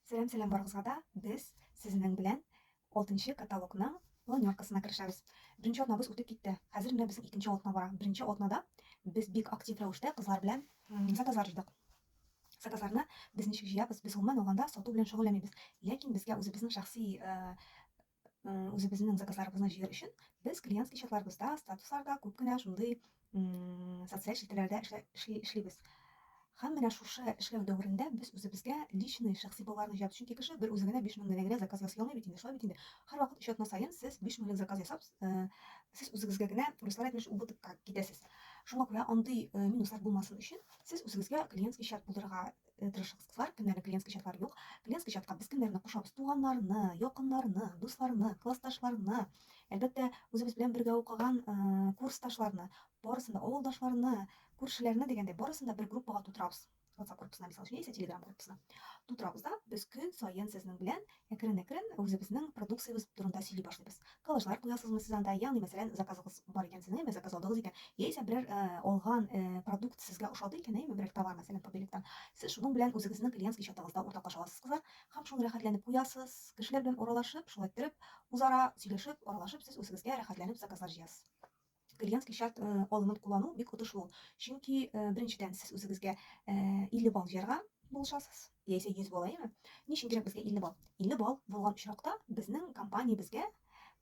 Сәлам, сәлам барыгызга да. Без сезнең белән 6нчы каталогның планеркасына керешәбез. Беренче атнабыз үтеп китте. Хәзер менә безнең икенче атна бара. Беренче атнада без бик актив рәвештә кызлар белән заказлар җыйдык. Заказларны без ничек җыябыз? Без гомумән алганда сату белән шөгыльләнмибез. Ләкин безгә үзебезнең шәхси э, үзебезнең заказларыбызны җыер өчен без клиентский чатларыбызда, статусларда күп кенә шундый социаль челтәрләрдә эшли, эшлибез. Һәм менә шушы эшләү дәверендә без үзебезгә личный шәхси балларны җыябыз. Чөнки кеше бер үзе генә 5000 генә генә заказ ясый алмый бит инде. Шулай бит инде. Һәрвакыт өч атна саен сез 5000 лек заказ ясап, э, сез үзегезгә генә руслар әйтмешли убытокка китәсез. Шуңа күрә андый э, минуслар булмасын өчен сез үзегезгә клиентский чат булдырырга э, тырышыгыз, кызлар, кемнәрнең клиентский чатлары юк. Клиентский чатка без кемнәрне кушабыз? Туганнарны, якыннарны, дусларны, классташларны, әлбәттә, үзебез белән бергә укыган э, курсташларны, барысын да авылдашларны, күршеләрне дигәндәй, барысын да бер группага тутырабыз. WhatsApp группасына, мисал өчен, яисә Telegram группасына. Тутырабыз да, без көн саен сезнең белән Әкрен-әкрен үзебезнең продукциябез турында сөйли башлыйбыз. Коллажлар куясызмы сез анда? Ягъни, мәсәлән, заказыгыз бар икән сезнең, әйме, заказ алдыгыз икән, яисә берәр алган продукт сезгә ошады икән, әйме, берәр товар, мәсәлән, Побелекдан, сез шуның белән үзегезнең клиентский чатыгызда уртаклаша аласыз, кызлар, һәм шуны рәхәтләнеп куясыз, кешеләр белән аралашып, шулай иттереп, үзара сөйләшеп, аралашып, сез үзегезгә рәхәтләнеп заказлар җыясыз. клиентский шарт э, алымын куллану бик отышлы ул чөнки э, беренчедән сез үзегезгә 50 э, балл җыярга булышасыз яисә 100 балл әйме ни өчен кирәк безгә 50 балл 50 балл булган очракта безнең компаниябезгә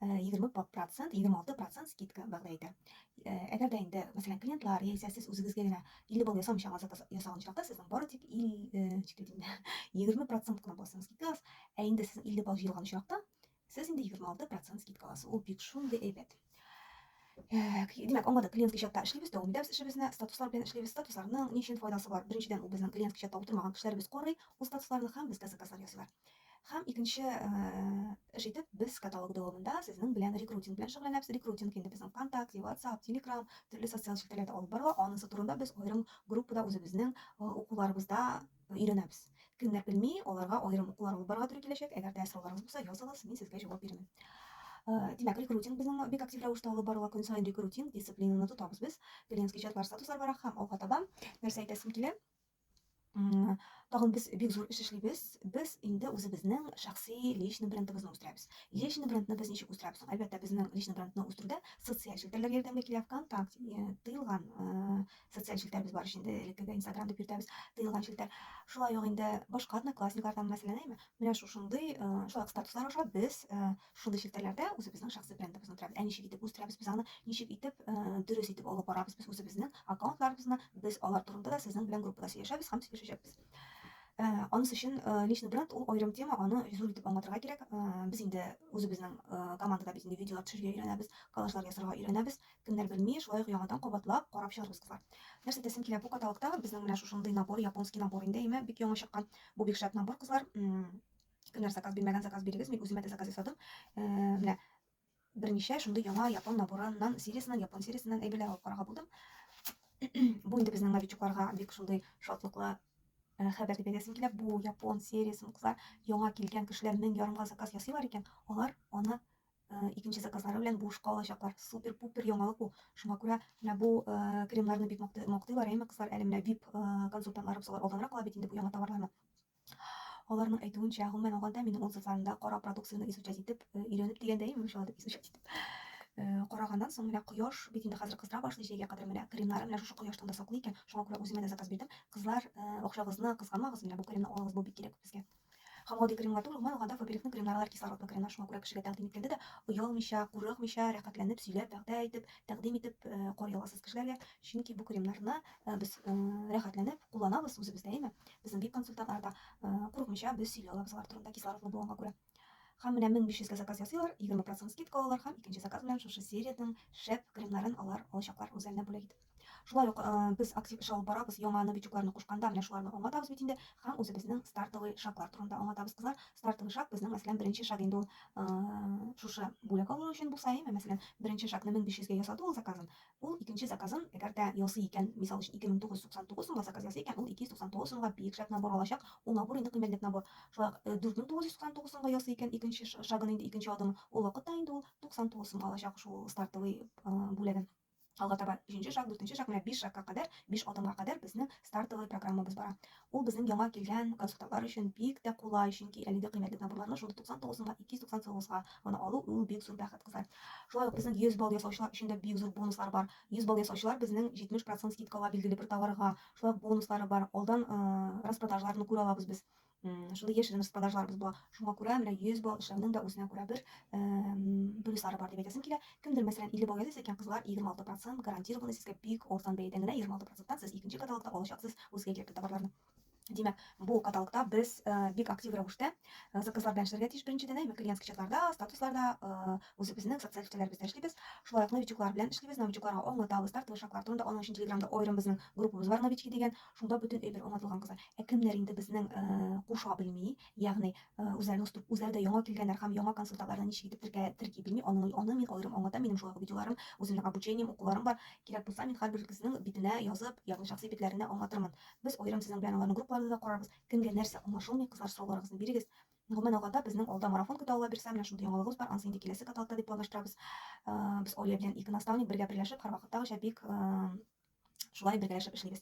20 процент 26 процент скидка вәгъдә итә әгәр дә инде мәсәлән клиентлар яисә сез үзегезгә генә 50 балл ясамыйча заказ ясаган очракта сезнең бары тик 20 процент кына буласыңыз скидкагыз ә инде сез 50 балл җыелган очракта Сез инде 26 процент скидка аласыз. Ул бик шундый әйбәт. Димәк, аңлады, клиент чатта эшлибез, дәвам итәбез эшебезне, статуслар белән эшлибез. Статусларның ни өчен файдасы бар? Беренчедән, ул безнең клиент чатта утырмаган кешеләребез карый, ул статусларны һәм безгә заказлар ясыйлар. Һәм икенче эш итеп, без каталог дәвамында сезнең белән рекрутинг белән шөгыльләнәбез. Рекрутинг инде безнең ВКонтакте, WhatsApp, Telegram, төрле социаль челтәрләрдә алып барыла. Анысы турында без аерым группада үзебезнең укуларыбызда өйрәнәбез. Кемнәр белми, аларга аерым укулар алып барырга туры киләчәк. Әгәр дә сорауларыгыз булса, языгыз, мин сезгә җавап бирәм. Э, димәк, рекрутинг безнең бик актив рәвештә алып барыла. Көн саен рекрутинг дисциплинаны тотабыз без. Клиентский чатлар, статуслар бара һәм алга таба нәрсә әйтәсем килә? Тагын без бик зур эш эшлибез. Без инде үзебезнең шәхси личный брендыбызны үстерәбез. Личный брендны без ничек үстерәбез? Әлбәттә, безнең личный брендны үстерүдә социаль челтәрләр ярдәмгә килә. ВКонтакте, э, тыелган э, социаль челтәрбез бар ич инде элеккеге инстаграм дип йөртәбез тыелган челтәр шулай ук инде башка одноклассниклардан мәсәлән әйме менә шушындый э, шулай ук статуслар аша без э, шушындый челтәрләрдә үзебезнең шәхси брендыбызны үтерәбез ә ничек итеп үстерәбез без аны ничек итеп э, дөрес итеп алып барабыз без үзебезнең аккаунтларыбызны без алар турында да сезнең белән группада сөйләшәбез һәм сөйләшәчәкбез Э, анысы өчен э, личный бренд ул аерым тема, аны зур итеп аңлатырга кирәк. Э, без инде үзебезнең командада без инде видеолар төшерергә өйрәнәбез, коллажлар ясарга өйрәнәбез. Кемнәр белми, шулай ук яңадан кабатлап карап чыгарбыз, кызлар. Нәрсә дисем килә, бу каталогта безнең менә шушындый набор, японский набор инде, әйме, бик яңа чыккан. Бу бик шәп набор, кызлар. Кемнәр заказ бирмәгән, заказ бирегез. Мин үземә дә заказ ясадым. Э, менә берничә шундый яңа япон наборыннан, сериясеннән, япон сериясеннән әйберләр алып карарга булдым. Бу инде безнең новичокларга бик шундый шатлыклы э, хәбәр дип әйтәсем килә. Бу япон сериясен, кызлар, яңа килгән кешеләр мең ярымга заказ ясыйлар икән, алар аны Э, икенче заказлары белән буш калачаклар. Супер-пупер яңалык бу. Шуңа күрә менә бу э, кремнарны бик мактыйлар, әйме кызлар, әле менә VIP э, консультантларыбыз алар алданрак ала бит инде бу яңа товарларны. Аларның әйтүенчә, гомумән алганда, минем отзывларымда кара продукцияне изучать итеп, өйрәнеп дигәндә, инде шулай дип изучать итеп караганнан соң менә кояш бит инде хәзер кыздыра башлый җәйгә кадәр менә кремнар менә шушы кояштан да саклый икән шуңа күрә үземә дә заказ бирдем кызлар акчагызны кызганмагыз менә бу кремны алыгыз бу бик кирәк безгә Һәм гади кремга түгел, гомумән алганда Фаберикның кремнары алар кислородный кремнар, шуңа күрә кешегә тәкъдим иткәндә дә оялмыйча, курыкмыйча, рәхәтләнеп сөйләп, вәгъдә итеп, тәкъдим итеп э, карый аласыз кешеләргә, чөнки бу кремнарны э, без э, рәхәтләнеп кулланабыз үзебездә, әйме? Безнең бик консультантлар да курыкмыйча без сөйли алабыз алар турында кислородный булганга күрә. Һәм менә 1500 га заказ ясыйлар, 20% скидка алалар һәм икенче заказ белән шушы сериянең шәп кремнарын алар алачаклар үзләренә бүләк итеп. Шулай ук без актив эш алып барабыз, яңа новичокларны кушканда, менә шуларны аңлатабыз бит инде һәм үзебезнең стартовый шаглар турында аңлатабыз, кызлар. Стартовый шаг безнең, мәсәлән, беренче шаг инде ул шушы бүләк алу өчен булса, әйме, мәсәлән, беренче шагны 1500 гә ясады ул заказын, ул икенче заказын, әгәр дә ясый икән, мисал өчен 2999 сумга заказ ясый икән, ул 299 сумга биек шаг набор алачак, ул набор инде кыйммәтлек набор. Шулай ук 4999 сумга ясый икән, икенче шагын инде, икенче адымын, ул вакытта инде ул 99 сумга алачак шул стартовый бүләген. Алга таба җинче шаг, дүртенче шаг, менә биш шагка кадәр, биш адымга кадәр безнең стартовый программабыз бара. Ул безнең яңа килгән консультантлар өчен бик тә кулай, чөнки әлеге кыйммәтле наборларны шундук 99 сумга, 299 га гына алу ул бик зур бәхет, кызлар. Шулай ук безнең 100 балл ясаучылар өчен дә бик зур бонуслар бар. 100 балл ясаучылар безнең 70 процент скидкага билгеле бер товарга, шулай ук бонуслары бар, алдан распродажаларны күрә алабыз без. Шундый яшерен распродажларыбыз була. Шуңа күрә менә 100 балл эшләүнең дә үзенә күрә бер плюслары бар дип әйтәсем килә. Кемдер, мәсәлән, 50 балл ясыйсы икән, кызлар 26% гарантированный сезгә бик арзан бәядән генә 26%тан сез икенче каталогта алачаксыз үзгә кирәкле товарларны. Димәк, бу каталогта без бик актив рәвештә заказлар белән эшләргә тиеш. Беренчедән, әйбәт клиентский чатларда, статусларда үзебезнең социаль челтәрләребездә эшлибез. Шулай ук новичоклар белән эшлибез. Новичокларга аңлатабыз, тартылышаклар турында. Аның өчен Телеграмда аерым безнең группабыз бар, новички дигән. Шунда бөтен өй бер аңлатылган кызлар. Ә кемнәр инде безнең куша белми, ягъни үзләренең струк, үзләре дә яңа килгәннәр һәм яңа консультантларны ничек итеп теркә, терки белми, аны, аны мин аерым аңлатам, минем шулай ук видеоларым, үземнең обучением, укуларым бар. Кирәк булса, мин һәрбер кызның битенә язып, ягъни шәхси битләренә аңлатырмын. Без аерым сезнең белән аларның группаларында да карарбыз. Кемгә нәрсә аңлашылмый, кызлар, сорауларыгызны бирегез. Гомумән алганда, безнең алда марафон көтә, Алла бирсә, менә шундый яңалыгыбыз бар, анысы инде киләсе каталкта дип планлаштырабыз. Без Оля белән ике наставник бергә берләшеп, һәрвакыттагыча бик Шулай бергәләшеп эшлибез.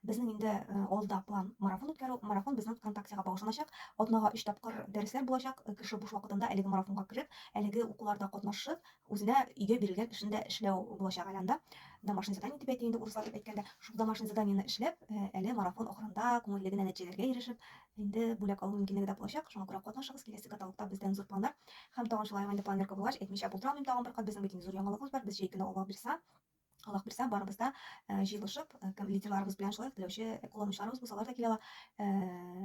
Безнең инде э, алда план марафон үткәрү. Марафон безнең ВКонтактега багышланачак. Атнага 3 тапкыр дәресләр булачак. Э, кеше буш вакытында әлеге марафонга кереп, әлеге укуларда катнашып, үзенә өйгә бирелгән эшен дә эшләү булачак әле анда. Домашний задание дип әйтә инде урыслар дип әйткәндә, шул домашний заданиене эшләп, э, әле марафон ахырында күңелле генә нәтиҗәләргә ирешеп, инде бүләк алу мөмкинлеге дә булачак. Шуңа күрә катнашыгыз, киләсе каталогта бездән зур планнар. Һәм тагын шулай инде планерка булгач, әйтмичә булдыра алмыйм тагын бер кат, безнең бит инде зур яңалыгыбыз бар. Без җәй көне алабирса Аллаһ бирсә, барыбыз да э, җыелышып, э, кем лидерларыбыз белән шулай ук теләүче э, кулланучыларыбыз булса, алар да килә ала.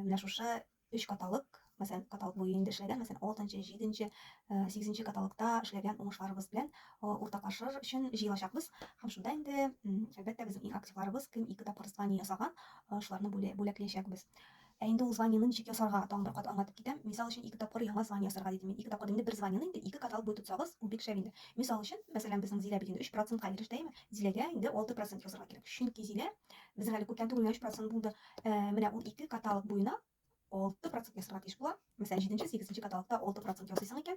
Менә шушы өч каталык, мәсәлән, каталык буе инде эшләгән, мәсәлән, 6-нчы, 7-нче, 8-нче каталыкта эшләгән уңышларыбыз белән уртаклашыр өчен җыелачакбыз. Һәм шунда инде, әлбәттә, безнең иң активларыбыз кем ике тапкыр Испания ясаган, шуларны бүләкләячәкбез. Ә инде ул званиены ничек ясарга, тагын бер кат аңлатып китәм. Мисал өчен, ике тапкыр яңа звание ясарга дидем мин. Ике тапкыр инде бер званиены инде ике кат алып буй тотсагыз, ул бик шәп инде. Мисал өчен, мәсәлән, безнең Зилә бит инде өч процентка иреште, әйеме? Зиләгә инде алты процент язарга кирәк. Чөнки Зилә безнең әле күптән түгел генә өч процент булды. Ә, менә ул ике каталог буена алты процент ясарга тиеш була. Мәсәлән, җиденче, сигезенче каталогта алты процент ясыйсың икән,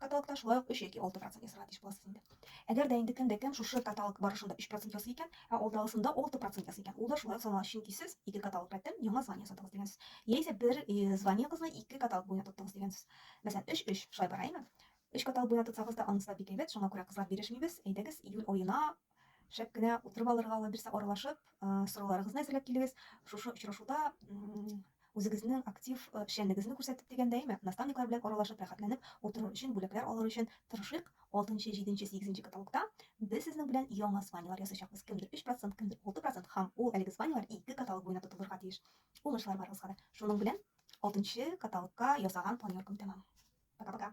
Каталогта шулай ук 3 яки 6 процент ясарга тиеш буласыз инде. Әгәр дә инде кемдә кем шушы каталог барышында 3 процент ясый икән, ә алдагысында 6 процент ясый икән, ул да шулай ук санала, чөнки сез ике каталог рәттән яңа звание ясадыгыз дигәнсез. Яисә бер э, званиегызны ике каталог буена тоттыгыз дигәнсез. Мәсәлән, 3-3 шулай бара, әйме? Өч каталог буена тотсагыз да, анысы да бик әйбәт, шуңа күрә кызлар бирешмибез. Әйдәгез, июль аена шәп кенә утырып алырга ала бирсә аралашып сорауларыгызны әзерләп килегез шушы очрашуда үзегезнең актив эшчәнлегегезне күрсәтеп дигәндә әйме наставниклар белән аралашып рәхәтләнеп утырыр өчен бүләкләр алыр өчен тырышыйк алтынчы җиденче сигезенче каталогта без сезнең белән яңа званиелар ясыйчакбыз кемдер өч процент кемдер алты процент һәм ул әлеге званиелар ике каталог буена тотылырга тиеш уңышлар барыгызга да шуның белән алтынчы каталогка ясаган планеркам тәмам пока пока